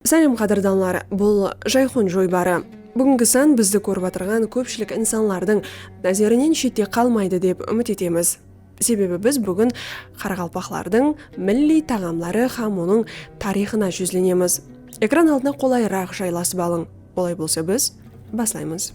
Sálem qádirdanlar, bul Jayxun joybarı. Búgingi sán bizdi kórip atırǵan kópshilik insanlardıń názerinen shette qalmaydı dep úmit etemiz. Sebebi biz búgin qaraqalpaqlardıń milliy taǵamları hám onıń tariyxına júzlenemiz. Ekran aldına qolayıraq jaylasıp alıń. Olay bolsa biz baslaymız.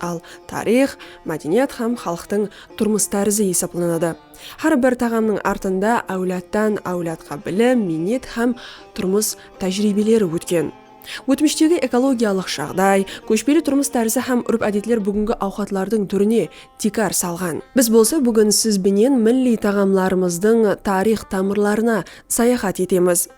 Al, tariyx, mádeniyat hám xalıqtıń turmıs tárizi esaplanadı. Hár bir taǵamnıń artında áwladtan áwladqa bilim, miynet hám turmıs tájiriybeleri ótken. Ótmishtegi ekologiyalıq jaǵday, kóshpeli turmıs tárizi hám úrp-ádetler búgingi awqatlardıń túrine tiykar salǵan. Biz bolsa búgin siz benen milliy taǵamlarımızdıń tariyx tamırlarına sayaxat etemiz.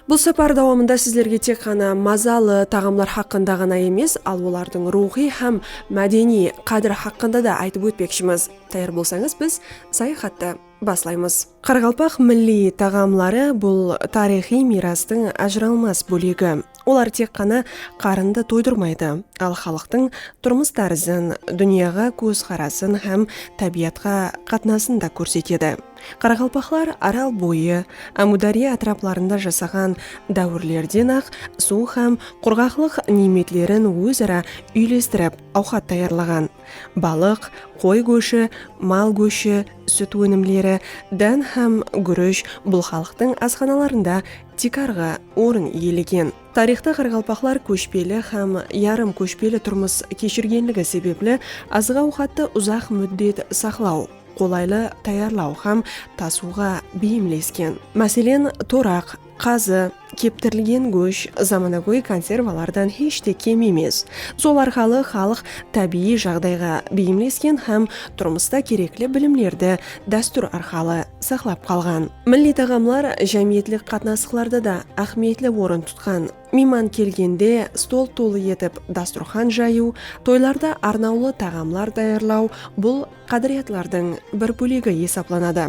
Bul sapar dawamında sizlerge tek ǵana mazalı taǵamlar haqqında ǵana emes, al olardıń ruwxıy hám mádeniy qádiri haqqında da aytıp ótpekshimiz. Tayar bolsańız, biz sayaxattı baslaymız. Qaraqalpaq milliy taǵamları bul tariyxıy miyrastıń ajıralmas bólegi. Olar tek ǵana qarındı toydırmaydı, al xalıqtıń turmıs tárizin, dúnyaǵa kóz qarasın hám tábiyatqa qatnasın da kórsetedi. Qaraqalpaqlar Aral boyı, Ámudárya átiraplarında jasaǵan dáwirlerden-aq suw hám qurǵaqlıq niymetlerin óz-ara úylestirip awqat tayarlaǵan. Balıq, qoy góshi, mal góshi, sút ónimleri, dán hám gúrish bul xalıqtıń asxanalarında tiykarǵı orın iyelegen. Tariyxta qaraqalpaqlar kóshpeli hám yarım kóshpeli turmıs keshirgenligi sebepli azıq-awqattı uzaq múddet saqlaw, qolaylı tayarlaw hám tasıwǵa beyimlesken. Máselen, toraq, qazı, keptirilgen gósh zamanagóy konservalardan hesh te kem emes. Sol arqalı xalıq tábiyiy jaǵdayǵa beyimlesken hám turmısta kerekli bilimlerdi dástúr arqalı saqlap qalǵan milliy taǵamlar jámiyetlik qatnasıqlarda da áhmiyetli orın tutqan. Miyman kelgende stol tolı etip dasturxan jayıw, toylarda arnawlı taǵamlar tayarlaw bul qádiriyatlardıń bir bólegi esaplanadı.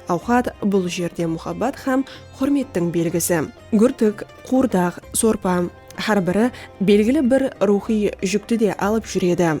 Awqat bul jerde muhabbat hám húrmettiń belgisi. Gúrtik, quwırdaq, sorpa, hár biri belgili bir ruwxıy júkti de alıp júredi.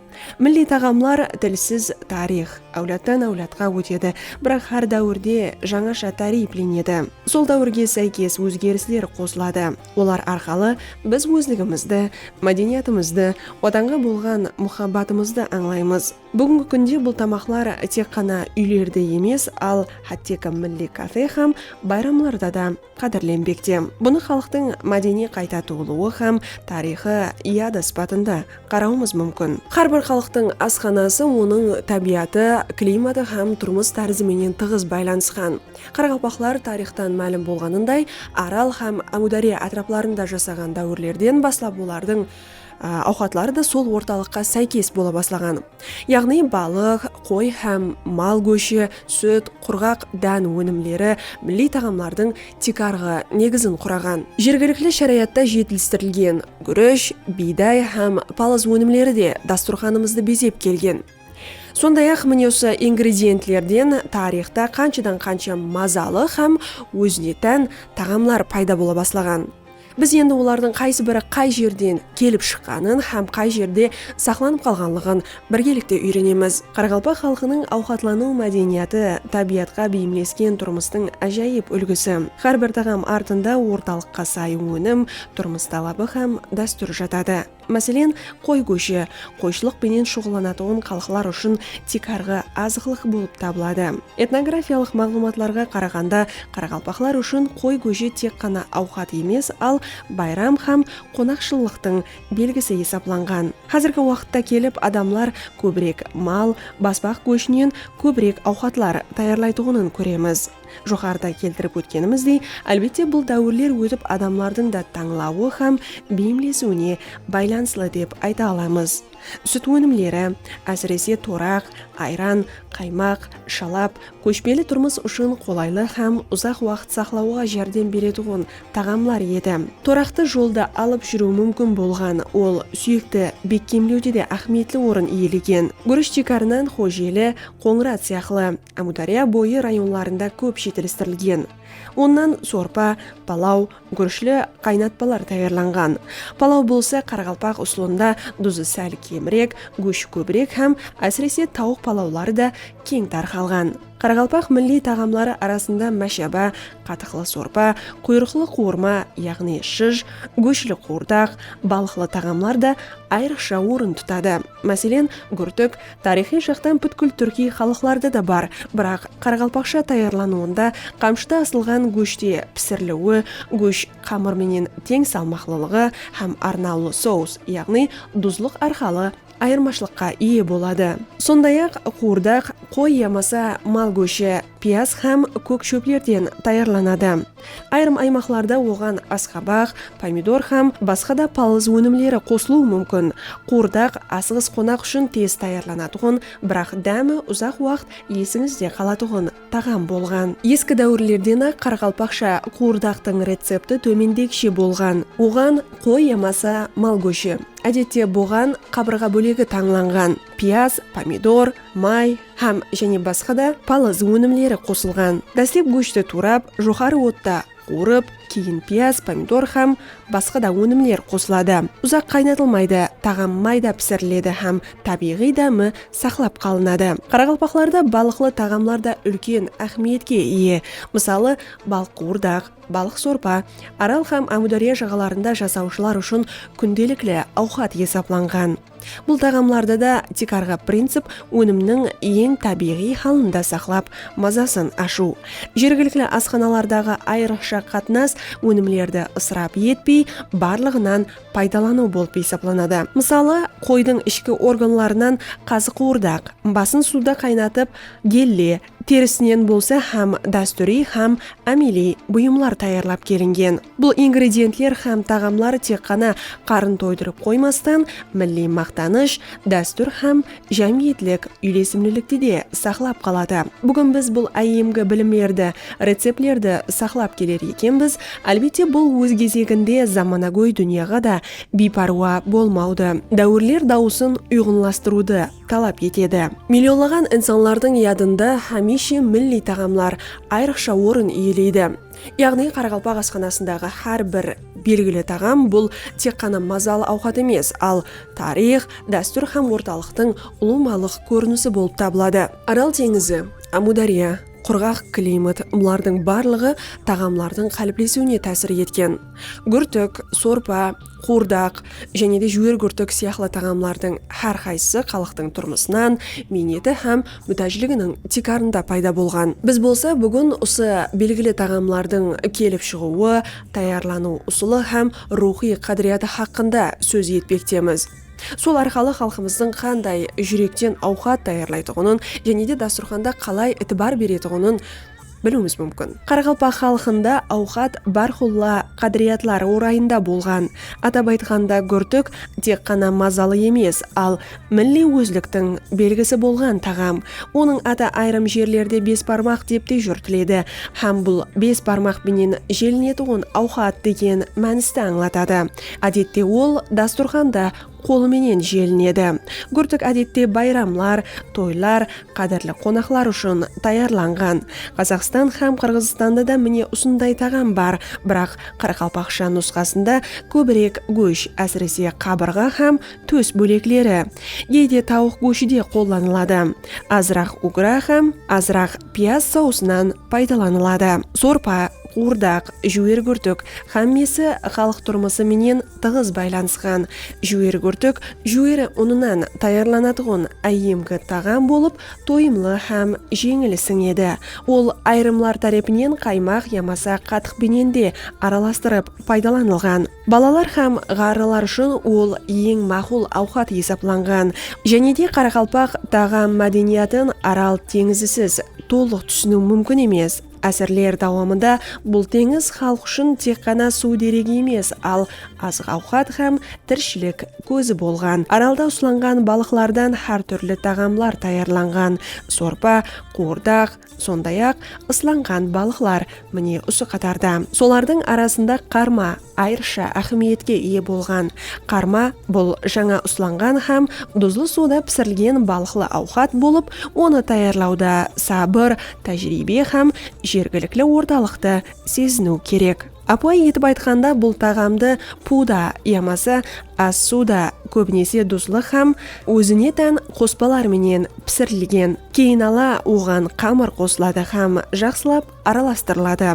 Milliy taǵamlar, tilsiz tariyx, áwladtan áwladqa ótedi, biraq hár dáwirde jańasha táriyplenedi. Sol dáwirge sáykes ózgerisler qosıladı, olar arqalı biz ózligimizdi, mádeniyatımızdı, Watanǵa bolǵan muhabbatımızdı ańlaymız. Búgingi kúnde bul tamaqlar tek ǵana úylerde emes, al hátteki milliy kafe hám bayramlarda da qádirlenbekte. Bunı xalıqtıń mádeniy qayta tuwılıwı hám tariyxı yada sıpatında qarawımız múmkin. Hár bir xalıqtıń asxanası onıń tábiyatı, klimatı hám turmıs tárizi menen tıǵız baylanısqan. Qaraqalpaqlar tariyxtan málim bolǵanınday, Aral hám Ámúdarya átiraplarında jasaǵan dáwirlerden baslap olardıń awqatları da sol ortalıqqa sáykes bola baslaǵan. yaǵnıy balıq, qoy hám mal góshi, sút, qurǵaq dán ónimleri, milliy taǵamlardıń tiykarǵı negizin quraǵan. Jergilikli sharayatta jetilistirilgen gúresh, biyday hám palız ónimleri de dasturxanımızdı bezep kelgen. Sonday-aq, mine usı ingredientlerden tariyxta qanshadan-qansha mazalı hám ózine tán taǵamlar payda bola baslaǵan. Biz endi olardıń qaysı biri qay jerden kelip shıqqanın hám qay jerde saqlanıp qalǵanlıǵın birgelikte úyrenemiz. Qaraqalpaq xalqınıń awqatlanıw mádeniyatı, tábiyatqa beyimlesken turmıstıń ájayıp úlgisi. Hár bir taǵam artında ortalıqqa say ónim, turmıs talabı hám dástúr jatadı. Máselen, qoy góshi, qoyshılıq penen shuǵıllanatuǵın xalıqlar ushın tiykarǵı azıqlıq bolıp tabıladı. Etnografiyalıq maǵlıwmatlarǵa qaraǵanda, qaraqalpaqlar ushın qoy góshi tek ǵana awqat emes, al, bayram hám qonaqshıllıqtıń belgisi esaplanǵan. Házirgi waqıtta kelip adamlar kóbirek mal, basbaq góshinen kóbirek awqatlar tayarlaytuǵının kóremiz. Joqarıda keltirip ótkenimizdey, álbette bul dáwirler ótip adamlardıń da tańlawı hám beyimlesiwine baylanıslı dep ayta alamız. Sút ónimleri, ásirese toraq, ayran, qaymaq, shalap, kóshpeli turmıs ushın qolaylı hám uzaq waqıt saqlawǵa járdem beretuǵın taǵamlar edi. Toraqtı jolda alıp júriw múmkin bolǵan, ol súyekti bekkemlewde de áhmiyetli orın iyelegen. Gúrish tiykarınan xojeli, qońırat sıyaqlı. Ámudárya boyı rayonlarında kóp jetilistirilgen. Onnan sorpa, palaw, gúrishli qaynatpalar tayarlanǵan. Palaw bolsa qaraqalpaq usılında duzı sál kemirek, góshi kóbirek hám ásirese tawıq palawları da keń tarqalǵan. Qaraqalpaq milliy taǵamları arasında máshaba, qatıqlı sorpa, quyrıqlı quwırma, yaǵnıy shıj, góshli quwırdaq, balıqlı taǵamlar da ayrıqsha orın tutadı. Máselen, gúrtik, Tariyxıy jaqtan pútkil túrkiy xalıqlarda da bar, biraq qaraqalpaqsha tayarlanıwında qamshıda asılǵan góshte pisiriliwi, gósh qamır menen teń salmaqlılıǵı hám arnawlı sous, yaǵnıy duzlıq arqalı ayırmashılıqqa iye boladı. Sonday-aq, quwırdaq, qoy yamasa mal góshi, piyaz hám kók shóplerden tayarlanadı. Ayırım aymaqlarda oǵan asqabaq, pomidor hám basqa da palız ónimleri qosılıwı múmkin. Quwırdaq asıǵıs qonaq ushın tez tayarlanatuǵın, biraq dámi uzaq waqıt esińizde qalatuǵın taǵam bolǵan. Eski dáwirlerden-aq qaraqalpaqsha quwırdaqtıń recepti tómendegishe bolǵan, oǵan qoy yamasa mal góshi, ádette boǵan qabırǵa bólegi tańlanǵan, piyaz, pomidor, may, Hám jáne basqa da palaz ónimleri qosılǵan. Dáslep góshti tuwrap, joqarı otta quwırıp, keyin piyaz, pomidor hám basqa da ónimler qosıladı. Uzaq qaynatılmaydı, taǵam mayda pisiriledi hám tábiyǵıy dámi saqlap qalınadı. Qaraqalpaqlarda balıqlı taǵamlar da úlken áhmiyetke iye. Mısalı, balıq quwırdaq, balıq sorpa Aral hám Ámúdárya jaǵalarında jasawshılar ushın kúndelikli awqat esaplanǵan. Bul taǵamlardı da tiykarǵı princip ónimniń eń tábiyǵıy halında saqlap, mazasın ashıw, jergilikli asxanalardaǵı ayrıqsha qatnas, ónimlerdi ısırap etpey, barlıǵınan paydalanıw bolıp esaplanadı. Mısalı, qoydıń ishki organlarınan qazıqıwırdaq, basın suwda qaynatıp, gelle, terisinen bolsa hám dástúriy hám ámeliy buyımlar tayarlap kelingen. Bul ingredientler hám taǵamlar tek ǵana qarın toydırıp qoymastan, milliy maqtanısh, dástúr hám jámiyetlik úylesimlilikti de saqlap qaladı. Búgin biz bul áyyemgi bilimlerdi, receptlerdi saqlap keler ekenbiz, álbette bul óz gezeginde zamanagóy dúnyaǵa da biypárwa bolmawdı, dáwirler dawısın uyǵınlastırıwdı, talap etedi. Millionlaǵan insanlardıń yadında hámiyshe milliy taǵamlar ayrıqsha orın iyeleydi. Yaǵnıy Qaraqalpaq asxanasındaǵı hár bir belgili taǵam bul tek ǵana mazalı awqat emes, al tariyx, dástúr hám ortalıqtıń ulıwmalıq kórinisi bolıp tabıladı. Aral teńizi, Ámudarya, qurǵaq klimat bulardıń barlıǵı taǵamlardıń qáliplesiwine tásir etken. Gúrtik, sorpa, quwırdaq jáne de júwergúrtik sıyaqlı taǵamlardıń hár qaysısı xalıqtıń turmısınan, miyneti hám mútájliginiń tiykarında payda bolǵan. Biz bolsa búgin usı belgili taǵamlardıń kelip shıǵıwı, tayarlanıw usılı hám ruwxıy qádiriyatı haqqında sóz etpektemiz. Sol arqalı xalqımızdıń qanday júrekten awqat tayarlaytuǵının jáne de dasturxanda qalay itibar beretuǵının, biliwimiz múmkin. Qaraqalpaq xalqında awqat bárqulla qádiriyatları orayında bolǵan. Atap aytqanda, gúrtik tek ǵana mazalı emes, al milliy ózliktiń belgisi bolǵan taǵam. Onıń atı ayırım jerlerde besbarmaq dep te júrtiledi hám bul bes barmaq penen jelinetuǵın awqat degen mániste ańlatadı. Ádette ol dasturxanda. Qolı menen jelinedi. Gúrtik ádette bayramlar, toylar, qádirli qonaqlar ushın tayarlanǵan. Qazaqstan hám Qırǵızstanda da mine usınday taǵam bar, biraq qaraqalpaqsha nusqasında kóbirek gósh, ásirese qabırǵa hám tós bólekleri. Geyde tawıq góshi de qollanıladı. Azıraq ugra hám azıraq piyaz sausınan paydalanıladı. Sorpa, quwırdaq, júwer gúrtik hámmesi xalıq turmısı menen tıǵız baylanısqan. Júweri gúrtik júweri unınan tayarlanatuǵın áyyemgi taǵam bolıp, toyımlı hám jeńil sińedi. Ol ayırımlar tárepinen qaymaq yamasa qatıq benen de aralastırıp paydalanılǵan. Balalar hám ǵarrılar ushın ol eń maqul awqat esaplanǵan. Jánede qaraqalpaq taǵam mádeniyatın Aral teńizisiz tolıq túsiniw múmkin emes. Ásirler dawamında bul teńiz xalıq ushın tek ǵana suw deregi emes, al, azıq-awqat hám tirishilik kózi bolǵan. Aralda uslanǵan balıqlardan hár túrli taǵamlar tayarlanǵan, sorpa, quwırdaq, sonday-aq, ıslanǵan balıqlar, mine, usı qatarda. Solardıń arasında qarma, Ayrıqsha áhmiyetke iye bolǵan qarma bul jańa uslanǵan hám duzlı suwda pisirilgen balıqlı awqat bolıp, onı tayarlawda sabır, tájiriybe hám jergilikli ortalıqtı seziniw kerek. Ápiwayı etip aytqanda, bul taǵamdı puwda yamasa as-suwda, kóbinese duzlı hám ózine tán qospalar menen pisirilgen. Keyin ala oǵan qamır qosıladı hám jaqsılap aralastırıladı.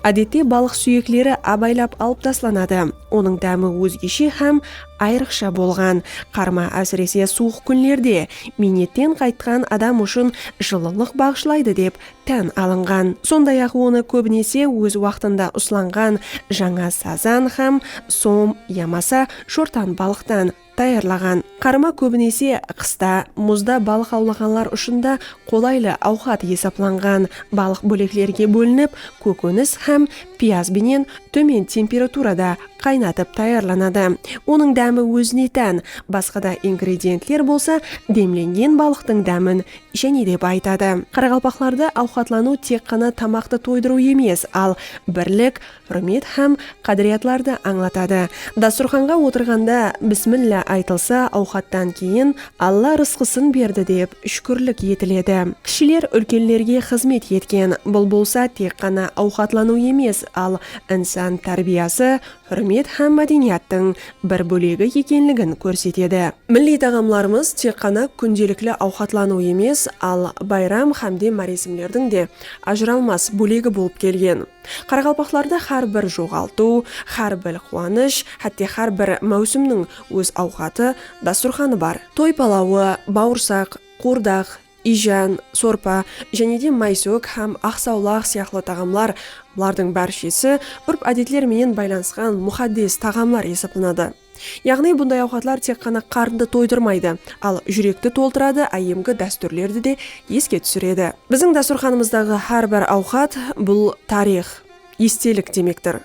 Ádette balıq súyekleri abaylap alıp taslanadı. Onıń dámi ózgeshe hám ayrıqsha bolǵan. Qarma ásirese suwıq kúnlerde, miynetten qaytqan adam ushın jıllılıq baǵıshlaydı dep tán alınǵan. Sonday-aq onı kóbinese óz waqtında uslanǵan jańa sazan hám som yamasa shortanbalıqtan, Tayarlaǵan qarma kóbinese qısta muzda balıq awlaǵanlar ushın da qolaylı awqat esaplanǵan. Balıq bóleklerge bólinip, kókónis hám piyaz benen tómen temperaturada qaynatıp tayarlanadı. Onıń dámi ózine tán, basqa da ingredientler bolsa demlengen balıqtıń dámin jáne de bayıtadı. Qaraqalpaqlarda awqatlanıw tek ǵana tamaqtı toydırıw emes, al birlik, húrmet hám qádiriyatlardı ańlatadı. Dasturxanǵa otırǵanda Bismilla aytılsa, awqattan keyin Alla rısqısın berdi dep shúkirlik etiledi. Kishiler úlkenlerge xızmet etken, bul bolsa tek ǵana awqatlanıw emes, al insan tárbiyası, húrmet hám mádeniyattıń bir bólegi ekenligin kórsetedi. Milliy taǵamlarımız tek ǵana kúndelikli awqatlanıw emes, al bayram hámde máresimlerdiń de ajıralmas bólegi bolıp kelgen. Qaraqalpaqlarda xár bir joǵaltıw, xár bil quwanısh, hátte xár bir máwsimniń óz awqatı, dasturxanı bar. Toy palawı, bawırsaq, quwırdaq, iyjan, sorpa, jáne de maysók hám aqsawlaq sıyaqlı taǵamlar, bulardıń bárshesi úrp-ádetler menen baylanısqan muxaddes taǵamlar esaplanadı. Yaǵnıy bunday awqatlar tek ǵana qarındı toydırmaydı, al júrekti toltıradı, áyyemgi dástúrlerdi de eske túsiredi. Biziń dástúrxanımızdaǵı hár bir awqat, bul tariyx, estelik demektir.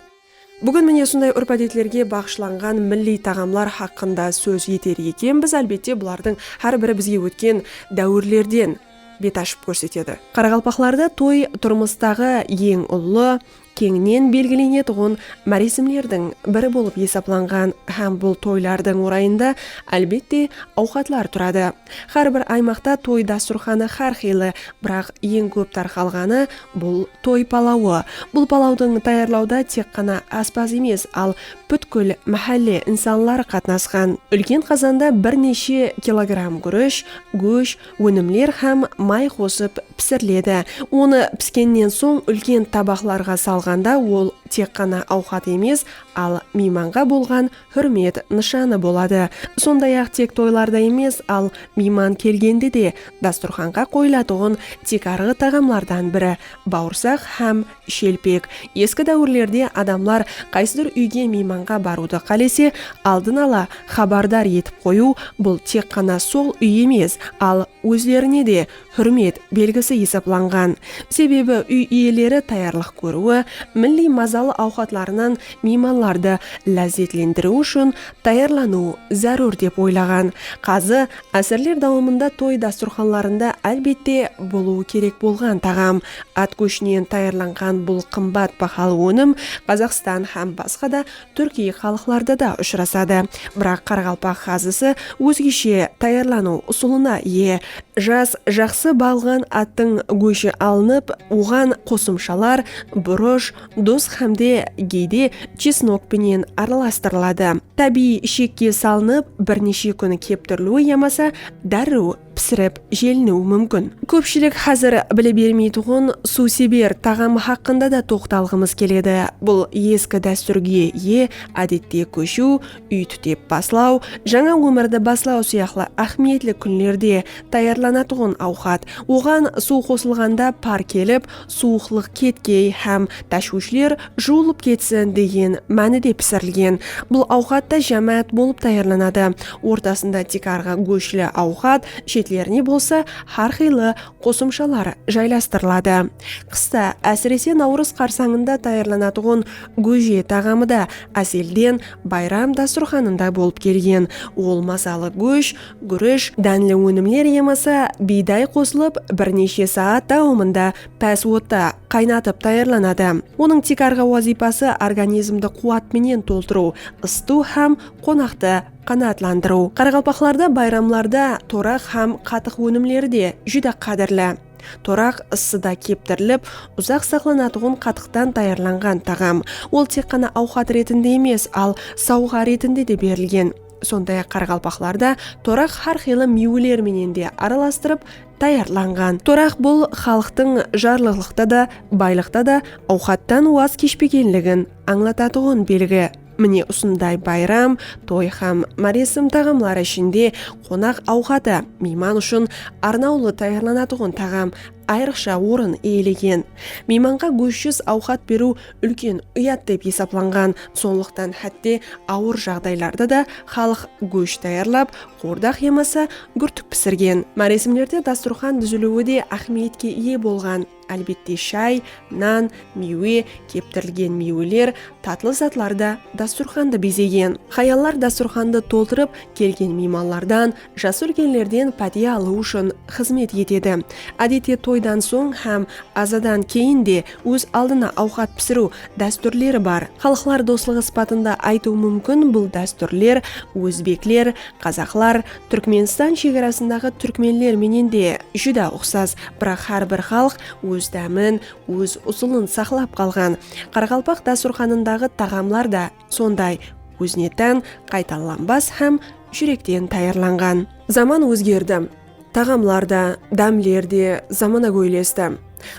Búgin mine usınday úrp-ádetlerge baǵıshlanǵan milliy taǵamlar haqqında sóz eter ekenbiz, álbette bulardıń hár biri bizge ótken dáwirlerden bet ashıp kórsetedi. Qaraqalpaqlarda toy turmıstaǵı eń ullı, Keńnen belgilenetuǵın máresimlerdiń biri bolıp esaplanǵan hám bul toylardıń orayında, álbette, awqatlar turadı. Hár bir aymaqta toy dasturxanı hár qıylı, biraq eń kóp tarqalǵanı, bul toy palawı. Bul palawdıń tayarlawda tek ǵana áspaz emes, al pútkil máhálle insanları qatnasqan. Úlken qazanda bir neshe kilogramm gúrish, gósh, Ónimler hám may qosıp pisiriledi. Onı piskennen soń úlken tabaqlarǵa salǵanda ol tek ǵana awqat emes, al miymanǵa bolǵan húrmet nıshanı boladı. Sonday-aq tek toylarda emes, al miyman kelgende de dasturxanǵa qoyılatuǵın tiykarǵı taǵamlardan biri bawırsaq hám Shelpek, Eski dáwirlerde adamlar qaysıdur úyge miymanǵa barıwdı qálese, aldın ala xabardar etip qoyıw, bul tek ǵana sol úy emes, al ózlerine de húrmet belgisi esaplanǵan. Sebebi úy iyeleri tayarlıq kóriwi, milliy mazalı awqatlarınan miymanlardı lázzetlendiriw ushın tayarlanıw zárúr dep oylaǵan. Qazı Ásirler dawamında toy dasturxanlarında álbette bolıwı kerek bolǵan taǵam, at góshinen tayarlanǵan bul qımbat bahalı ónim Qazaqstan hám basqa da túrkiy xalıqlarda da ushırasadı. Biraq qaraqalpaq xazısı ózgeshe tayarlanıw usılına iye. Jas, jaqsı baǵılǵan attıń góshi alınıp, oǵan qosımshalar, burısh, Duz hámde geyde chesnok penen aralastırıladı. Tábiyiy ishekge salınıp bir neshe kún keptiriliwi yamasa dárriw pisirip jeliniwi múmkin. Kópshilik házir bile bermeytuǵın suwseber taǵamı haqqında da toqtalǵımız keledi. Bul eski dástúrge iye, ádette kóshiw, úy tútep baslaw, jańa ómirdi baslaw sıyaqlı áhmiyetli kúnlerde tayarlanatuǵın awqat. Oǵan suw qosılǵanda par kelip, suwıqlıq ketkey hám táshwishler juwılıp ketsin degen mánide pisirilgen. Bul awqat ta jámáát bolıp tayarlanadı, ortasında tiykarǵı góshli awqat, shetlerine bolsa hár qıylı qosımshalar jaylastırıladı. Qısta, ásirese Nawrız qarsańında tayarlanatuǵın góje taǵamı da ázelden bayram dasturxanında bolıp kelgen. Ol mazalı gósh gúresh, dánli ónimler yamasa biyday qosılıp bir neshe saat dawamında pás otta qaynatıp tayarlanadı. Onıń tiykarǵı wazıypası organizmdi quwat menen toltırıw, ısıtıw hám qonaqtı qanaatlandırıw. Qaraqalpaqlarda bayramlarda toraq hám qatıq ónimleri de júdá qádirli. Toraq ıssıda keptirilip, uzaq saqlanatuǵın qatıqtan tayarlanǵan taǵam. Ol tek ǵana awqat retinde emes, al sawǵa retinde de berilgen. Sonday-aq qaraqalpaqlarda toraq hár qıylı miyweler menen de aralastırıp tayarlanǵan. Toraq bul xalıqtıń jarlıqlıqta da, baylıqta da awqattan waz keshpegenligin ańlatatuǵın belgi. Mine usınday bayram, toy hám máresim taǵamları ishinde qonaq awqatı miyman ushın arnawlı tayarlanatuǵın taǵam ayrıqsha orın iyelegen. Miymanǵa góshsiz awqat beriw úlken uyat dep esaplanǵan. Sonlıqtan hátte awır jaǵdaylarda da xalıq gósh tayarlap, qordaq yamasa gúrtik pisirgen. Máresimlerde dasturxan dúziliwi de áhmiyetke iye bolǵan. Álbette shay, nan, miywe, keptirilgen miyweler, tatlı zatlar da dasturxandı bezegen. Hayallar dasturxandı toltırıp, kelgen miymanlardan, Jas úlkenlerden pátiya alıw ushın xızmet etedi. Ádette toydan soń hám azadan keyin de óz aldına awqat pisiriw dástúrleri bar. Xalıqlar doslıǵı sıpatında aytıw múmkin, bul dástúrler ózbekler, qazaqlar, Túrkmenstan shegarasındaǵı túrkmenler menen de júdá uqsas, biraq hár bir xalıq óz dámin, óz usılın saqlap qalǵan. Qaraqalpaq dasturxanındaǵı taǵamlar da Sonday ózine tán, qaytalanbas hám júrekten tayarlanǵan. Zaman ózgerdi. Taǵamlar da, dámler de zamana góylesti.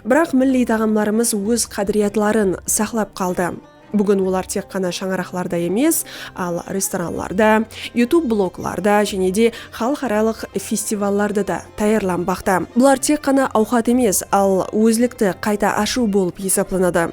Biraq milliy taǵamlarımız óz qádiriyatların saqlap qaldı. Búgin olar tek ǵana shańaraqlarda emes, al restoranlarda, YouTube bloglarda jáne de xalıqaralıq festivallarda da tayarlanbaqta. Bular tek ǵana awqat emes, al ózlikti qayta ashıw bolıp esaplanadı.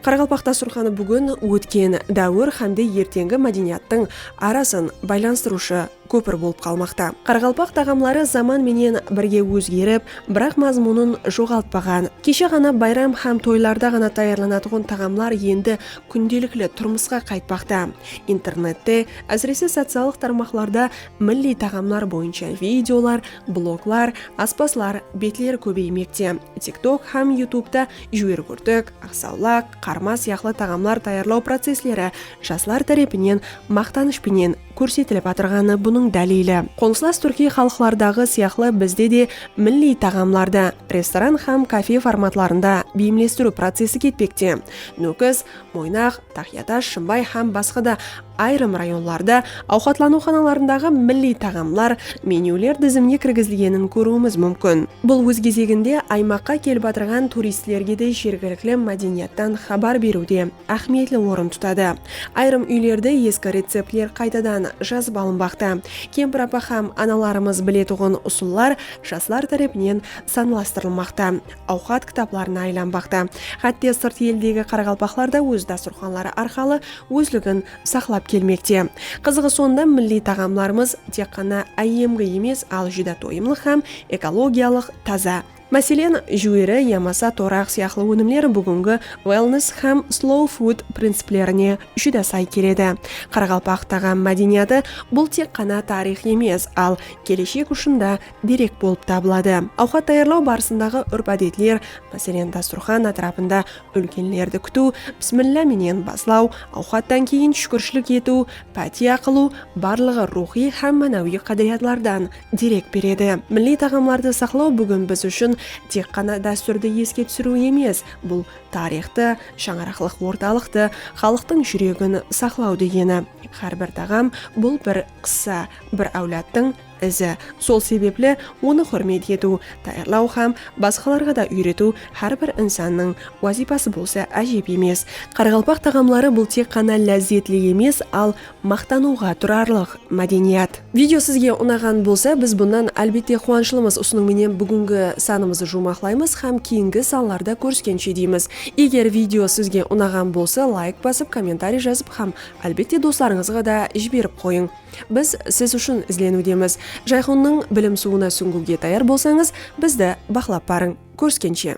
Qaraqalpaq dasturxanı búgin ótken dáwir hámde erteńgi mádeniyattıń arasın baylanıstırıwshı kópir bolıp qalmaqta. Qaraqalpaq taǵamları zaman menen birge ózgerip, biraq mazmunın joǵaltpaǵan. Keshe ǵana bayram hám toylarda ǵana tayarlanatuǵın taǵamlar endi kúndelikli turmısqa qaytpaqta. Internette, ásirese sociallıq tarmaqlarda milliy taǵamlar boyınsha videolar, Bloglar, aspazlar betleri kóbeymekte. TikTok hám Youtubeda júwer kúrtik, aqsawlaq, qarma sıyaqlı taǵamlar tayarlaw processleri jaslar tárepinen maqtanısh penen kórsetilip atırǵanı bunıń dálili. Qońsılas túrkiy xalıqlardaǵı sıyaqlı bizde de milliy taǵamlardı restoran hám kafe formatlarında beyimlestiriw procesi ketpekte. Nókis, Moynaq, Taxyatash, Shımbay hám basqa da ayırım rayonlarda awqatlanıwxanalarındaǵı milliy taǵamlar, menyuler dizimine kirgizilgenin kóriwimiz múmkin. Bul óz gezeginde aymaqqa kelip atırǵan turistlerge de jergilikli mádeniyattan xabar beriwde áhmiyetli orın tutadı. Ayırım úylerde eski receptler qaytadan jazıp alınbaqta. Kempir apa hám analarımız biletuǵın usıllar jaslar tárepinen sanlastırılmaqta. awqat kitaplarına aylanbaqta. Hátte sırt eldegi qaraqalpaqlar da óz dasturxanları arqalı ózligin saqlap kelmekte. Qızıǵı sonda milliy taǵamlarımız tek ǵana áyyemgi emes, al júdá toyımlıq hám ekologiyalıq taza. Máselen, júweri yamasa toraq sıyaqlı ónimler búgingi wellness hám slow food principlerine júdá say keledi. Qaraqalpaq taǵam mádeniyatı bul tek ǵana tariyx emes, al keleshek ushın da derek bolıp tabıladı. Awqat tayarlaw barısındaǵı úrp-ádetler, máselen, dasturxan átirapında úlkenlerdi kútiw, Bismilla menen baslaw, awqattan keyin shúkirshilik etiw, pátiya qılıw, barlıǵı ruwxıy hám mánawiy qádiriyatlardan derek beredi. Milliy taǵamlardı saqlaw búgin biz ushın tek ǵana dástúrdi eske túsiriw emes, bul tariyxtı, shańaraqlıq ortalıqtı, xalıqtıń júregin saqlaw degeni. Hár bir taǵam, bul bir qıssa, bir áwladtıń. izi. Sol sebepli onı húrmet etiw, tayarlaw hám basqalarǵa da úyretiw hár bir insannıń wazıypası bolsa ájep emes. Qaraqalpaq taǵamları bul tek ǵana lázzetli emes, al maqtanıwǵa turarlıq mádeniyat. Video sizge unaǵan bolsa biz bunnan álbette quwanıshlımız. Usınıń menen búgingi sanımızdı juwmaqlaymız hám keyingi sanlarda kóriskenshe deymiz. Eger video sizge unaǵan bolsa layk basıp, kommentariy jazıp hám álbette doslarıńızǵa da jiberip qoyıń. Biz siz ushın izleniwdemiz. Jayxonnıń bilim suwına súńgiwge tayar bolsańız, bizdi baqlap barıń. Kóriskenshe!